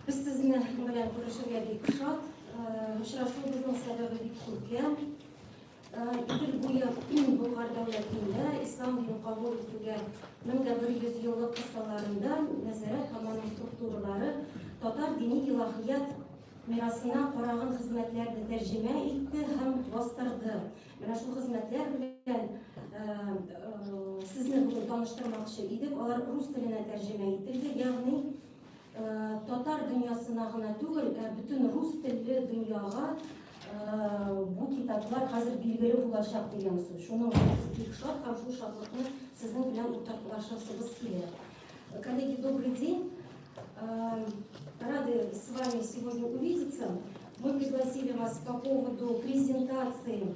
Без сезне белән күрешергә бик шат. Очрашуыбызның сәбәбе бик күпләм. Идел буе Болгар дәүләтендә ислам динен кабул итүгә 1100 еллык кысаларында нәзарәт һәм аның структуралары татар дини илаһият мирасына караган хезмәтләрне тәрҗемә итте һәм бастырды. Менә шул хезмәтләр белән э, э, сезне бүген таныштырмакчы идек. Алар рус теленә тәрҗемә ителде, ягъни Татар дөньясына гына түгел, ә бөтен рус телле дөньяга бу китаплар хәзер билгеле булачак дигән сүз. Шуның өчен бик шат һәм шул шатлыкны сезнең белән уртаклашасыбыз килә. Коллеги, добрый день. Рады с вами сегодня увидеться. Мы пригласили вас по поводу презентации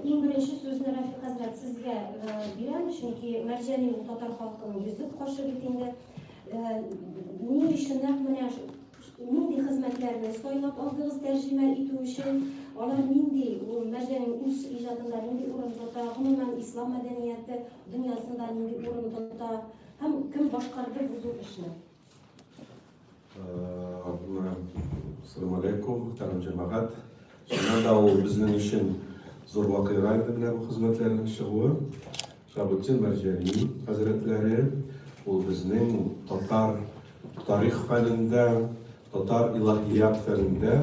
Иң беренче сүзне Рафик хәзрәт сезгә э, бирәм, чөнки Мәрҗәни ул татар халкының йөзек кашы бит инде. Э, ни өчен нәкъ менә нинди хезмәтләрне сайлап алдыгыз тәрҗемә итү өчен? Алар нинди ул Мәрҗәнин үз иҗатында нинди урын тота, гомумән ислам мәдәнияте дөньясында нинди урын тота һәм кем башкарды бу зур эшне? Салам алейкум, тәмам җәмәгать. Шуннан да ул безнең өчен зур вакыйга инде менә бу хезмәтләрнең чыгуы. Шабутин Мәрҗәни хәзрәтләре ул безнең татар тарих фәнендә, татар илаһият фәнендә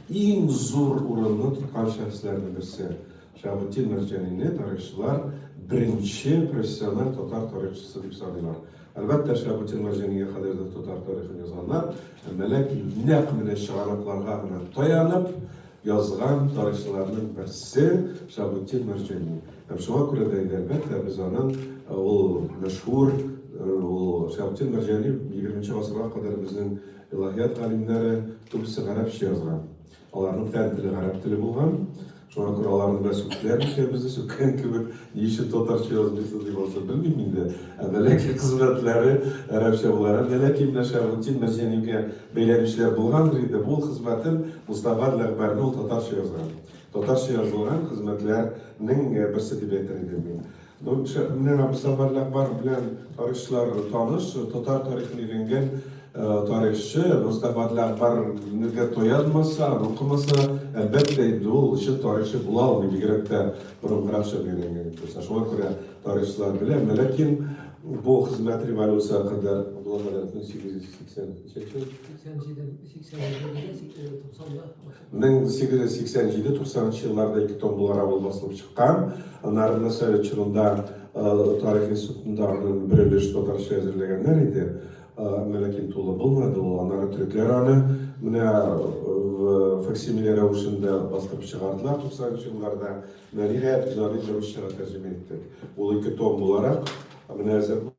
иң зур урынны тоткан шәхесләрнең берсе. Шабутин Мәрҗәнине тарихчылар беренче профессиональ татар тарихчысы дип саныйлар. Әлбәттә, Шиһабетдинга Җәнигә кадәрдер татар тарихын язганнар, әмма ләкин нәкъ менә чыганакларга гына таянып язган тарихчыларның берсе Шиһабетдин Мәрҗани. Һәм шуңа күрә дә инде, әлбәттә, без аның ул мәшһүр, ул Шиһабетдин Мәрҗани 20 нче гасырга кадәр безнең илаһият галимнәре күбесе гарәпчә язган. Аларның фән теле гарәп теле булган. Шуңа күрә аларны бәс үкләр икән безне сүккән кебек, ни өчен татарча язмыйсыз дип алса белмим инде. Ә Мәләки хезмәтләре гарәпчә була. Һәм Мәләки белән Шәргутдин Мәҗәнигә бәйләнешләр булгандыр инде. Бу хезмәтен Мостафа Ләгъбәрне ул татарча язган. Татарча язылган хезмәтләрнең берсе дип әйтер идем мин. Монча менә бу Сәфәрләр бар белән тарихчылар таныш, татар тарихын өйрәнгән тарихчы Мустафа Ләгъбар нигә тоянмаса, укымаса, әлбәттә инде ул чын тарихчы була алмый, бигрәк тә борынгыракча өйрәнгән икән. Шуңа күрә тарихчылар белә, ләкин бу хезмәт революция хакында булган 1883 87 90 да 1887 97 елларда ике том буларак ул басылып чыккан. Народный совет чорында тарих институтында аны бер өлеш татарча әзерләгәннәр иде, әмма ләкин тулы булмады ул. Аннары төрекләр аны менә факсимиле рәвешендә бастырып чыгардылар 90 нчы елларда. Менә, ниһаять, без аны инде русчага тәрҗемә иттек. Ул ике том буларак менә әзер.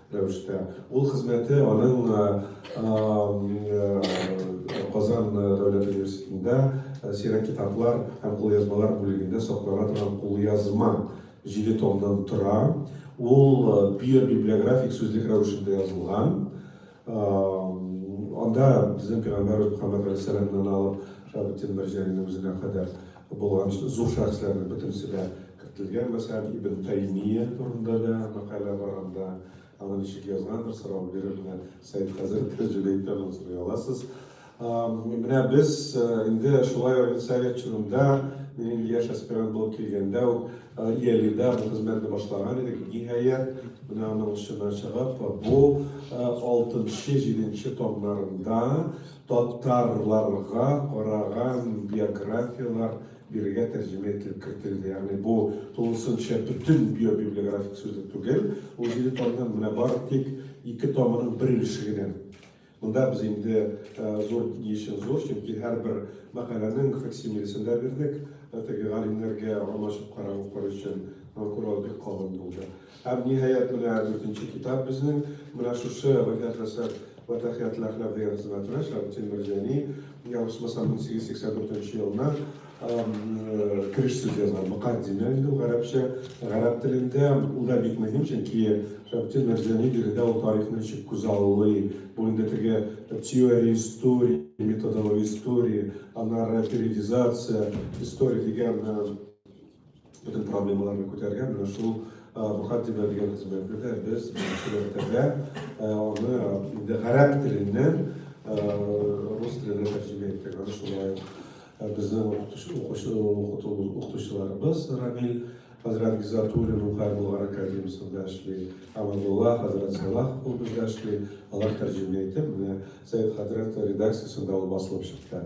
рәвештә. Ул хезмәте аның Казан дәүләт университетында сирәк китаплар һәм кулъязмалар бүлегендә саклана торган кулъязма җиде томнан тора. Ул био-библиографик сүзлек рәвешендә язылган. Анда безнең пәйгамбәрбез Мөхәммәд галәйһиссәламнан алып Шаһабетдин Мәрҗәнинең үзенә кадәр булган зур шәхесләрнең бөтенесе дә Кертелгән, мәсәлән, Ибн Тәймия турында да мәкалә бар анда. Аны ничек язгандыр, сорау биреп, менә Сәйд хәзрәт тә җөри икән, аны сорый аласыз. Менә без инде шулай ук совет чорында, мин инде яшь аспирант булып килгәндә үк, Иәлидә бу хезмәтне башлаган идек. Ниһаять, менә аның очына чыгып, бу алтынчы, җиденче томнарында татарларга караган биографияләр Бирегә тәрҗемә ителеп кертелде. Ягъни бу тулысынча бөтен биобиблиографик сүзлек түгел. Ул җиде томнан менә бар тик ике томының бер өлеше генә. Монда без инде зур ни өчен зур, чөнки һәрбер мәкаләнең факсимилесен дә бирдек. Теге галимнәргә алмашып карап укыр өчен, һәм Курал бик калын булды. Һәм, ниһаять, менә дүртенче китап безнең менә шушы Ваһят Хәсән вә Тәхият Ләхнәф дигән хезмәтенә, Шәмсетдин Мәрҗани, ялгышмасам, 1884 елына кереш сүз язган, мөкаддимә инде ул гарәпчә, гарәп телендә, ул да бик мөһим, чөнки Шәмсетдин Мәрҗани биредә ул тарихны ничек күзаллый, бу инде теге теория истории, методология истории, аннары периодизация истории дигән Бөтен проблемаларны күтәргән менә шул бухгалтерия дигән хезмәтне дә без шәһәрдә аны инде гарәп теленнән рус теленә тәрҗемә иттек. Аны шулай безнең укытучыларыбыз Рамил хәзрәт Гизатуллин Укай Болгар академиясендә эшли, Амадулла хәзрәт Салах ул бездә эшли, алар тәрҗемә итеп, менә Сәйд хәзрәт редакциясендә ул басылып чыкты.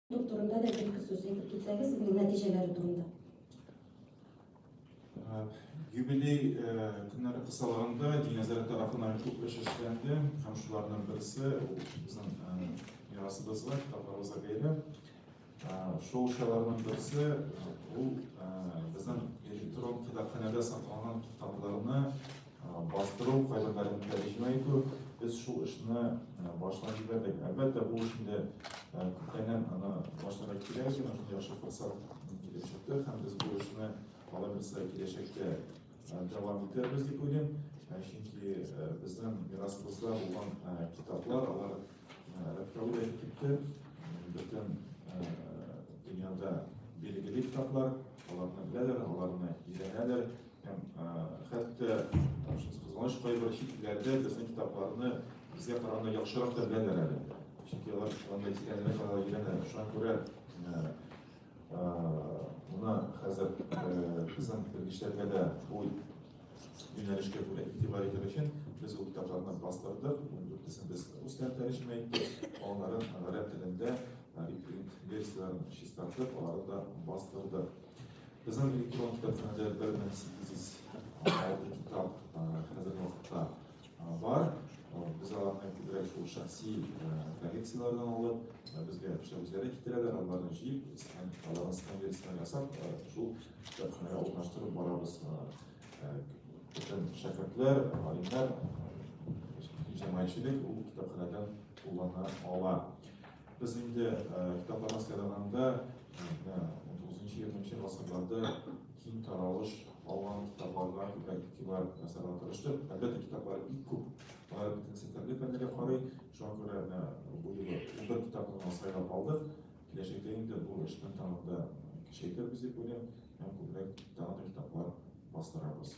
Ул турында да бер-ике сүз әйтеп китсәгез, бу нәтиҗәләре турында. Юбилей көннәре кысаларында Динәзәр тарафынан күп эш эшләнде һәм шуларның берсе безнең мирасыбызга, китапларыбызга бәйле. Шул эшләрнең берсе ул безнең электрон китапханәдә сакланган китапларны Бастыру, кайбер мәгълүмат тәрҗемә итү. Без шул эшне башлап җибәрдек. Әлбәттә, бу эшне күптәннән аны башларга кирәк иде, менә шундый яхшы форсат килеп чыкты һәм без бу эшне алай булса киләчәктә дәвам итәрбез дип уйлыйм. Чөнки безнең мирасыбызда булган китаплар, алар археология китте, бөтен дөньяда билгеле китаплар, аларны беләләр, аларны өйрәнәләр. Хәтта кызганыч кайбер чит илләрдә безнең китапларны безгә караганда яхшырак та беләләр әле. Чөнки алар анда тирәнрәк алар өйрәнә. Шуңа күрә мына хәзер безнең белгечләргә дә бу юнәлешкә күрә игътибар итер өчен без ул китапларны бастырдык. Дүртесен без рус телен тәрҗемә иттек, аларын гарәп телендә репринт версияләрен чистартып, аларны да бастырдык. Безнең электрон китапханәдә 1806 китап хәзерге вакытта бар. Без аларны күбрәк шул шәхси коллекцияләрдән алып, безгә эшләүчеләр дә китерәләр, аларны җыеп, һәм аларны сканерисына ясап, шул китапханәгә урнаштырып барабыз. Бөтен шәкертләр, галимнәр, җәмәгатьчелек ул китапханәдән куллана ала. Без инде китаплардан сайлаганда 19-20 гасырларда киң таралыш алган китапларга күбрәк игътибар ясарга тырыштык. Әлбәттә, китаплар бик күп, алар бөтен сәтәргә фәннәргә карый. Шуңа күрә менә бу юлы бер китапны гына сайлап алдык. Киләчәктә инде бу эшне тагын да көчәйтер без дип уйлыйм һәм күбрәк тагын да китаплар бастырабыз.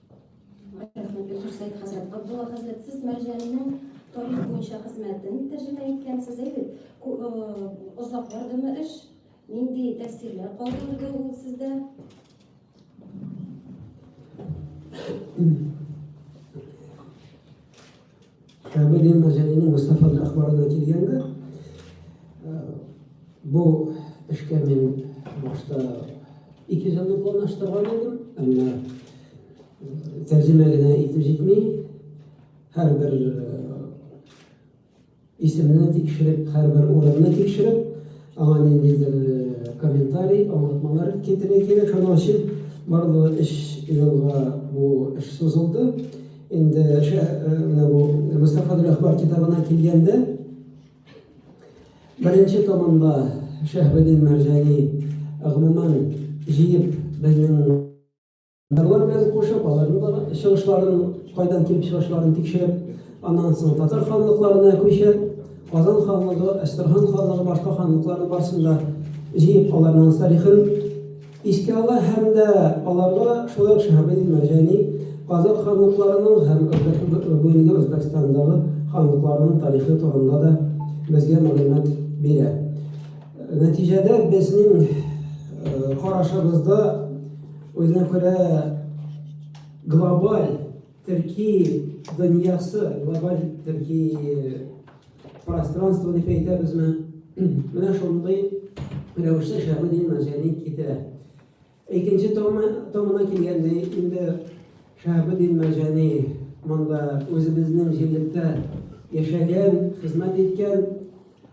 Хәзрәт Габдулла хәзрәт, сез Мәрҗәннең тарих буенча хезмәтен тәрҗемә иткәнсез әйбит. Озак бардымы эш? Нинди тәэсирләр калдырды ул сездә? Камил ибн Мәзәлинең Мустафа әхбарына килгәндә, бу эшкә мин башта ике җанны планлаштырган идем, әмма тәрҗемә генә итеп җитми, һәрбер Исемне тикшереп, һәрбер урынны тикшереп, аңа ниндидер комментарий, аңлатмалар китерә кирәк. Шуның өчен барлыгы өч елга бу эш сузылды. Инде менә бу Мостафаның әхбар китабына килгәндә, беренче томында Шәһабетдин Мәрҗани гомумән җыеп безнең Алар белән кушып, аларның да чыгышларын, кайдан килеп чыгышларын тикшереп, аннан соң татар ханлыкларына күчеп, Казан ханлыгы, Әстерхан ханлыгы, башка ханлыкларның барысын да җыеп, аларның тарихын искә ала һәм дә аларга шулай ук Шәһабетдин Мәрҗани Казан ханлыкларының һәм бүгенге Үзбәкстандагы ханлыкларның тарихы турында да безгә мәгълүмат бирә. Нәтиҗәдә безнең карашыбызда Үзенә күрә глобаль төрки дөньясы, глобаль төрки пространство дип әйтәбезме? Менә шундый рәвештә Шәһабетдин Мәҗәни китерә. Икенче томына килгәндә инде Шәһабетдин Мәҗәни монда үзебезнең җирлектә яшәгән, хезмәт иткән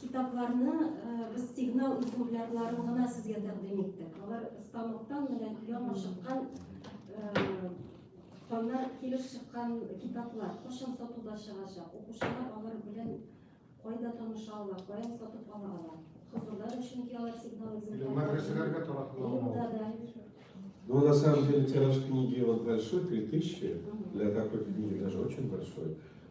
Китапларны без сигнал экземплярларын гына сезгә тәкъдим иттек. Алар станоктан менә яңа чыккан Ханнар килеп чыккан китаплар кошын сатуда чыгачак. Укучылар алар белән кайда таныша ала, каян сатып ала ала. Хозурда да чөнки алар сигнал изелгән. Мәдрәсәләргә таратыла. Ну, на самом деле, тираж книги вот большой, 3000, для такой книги даже очень большой.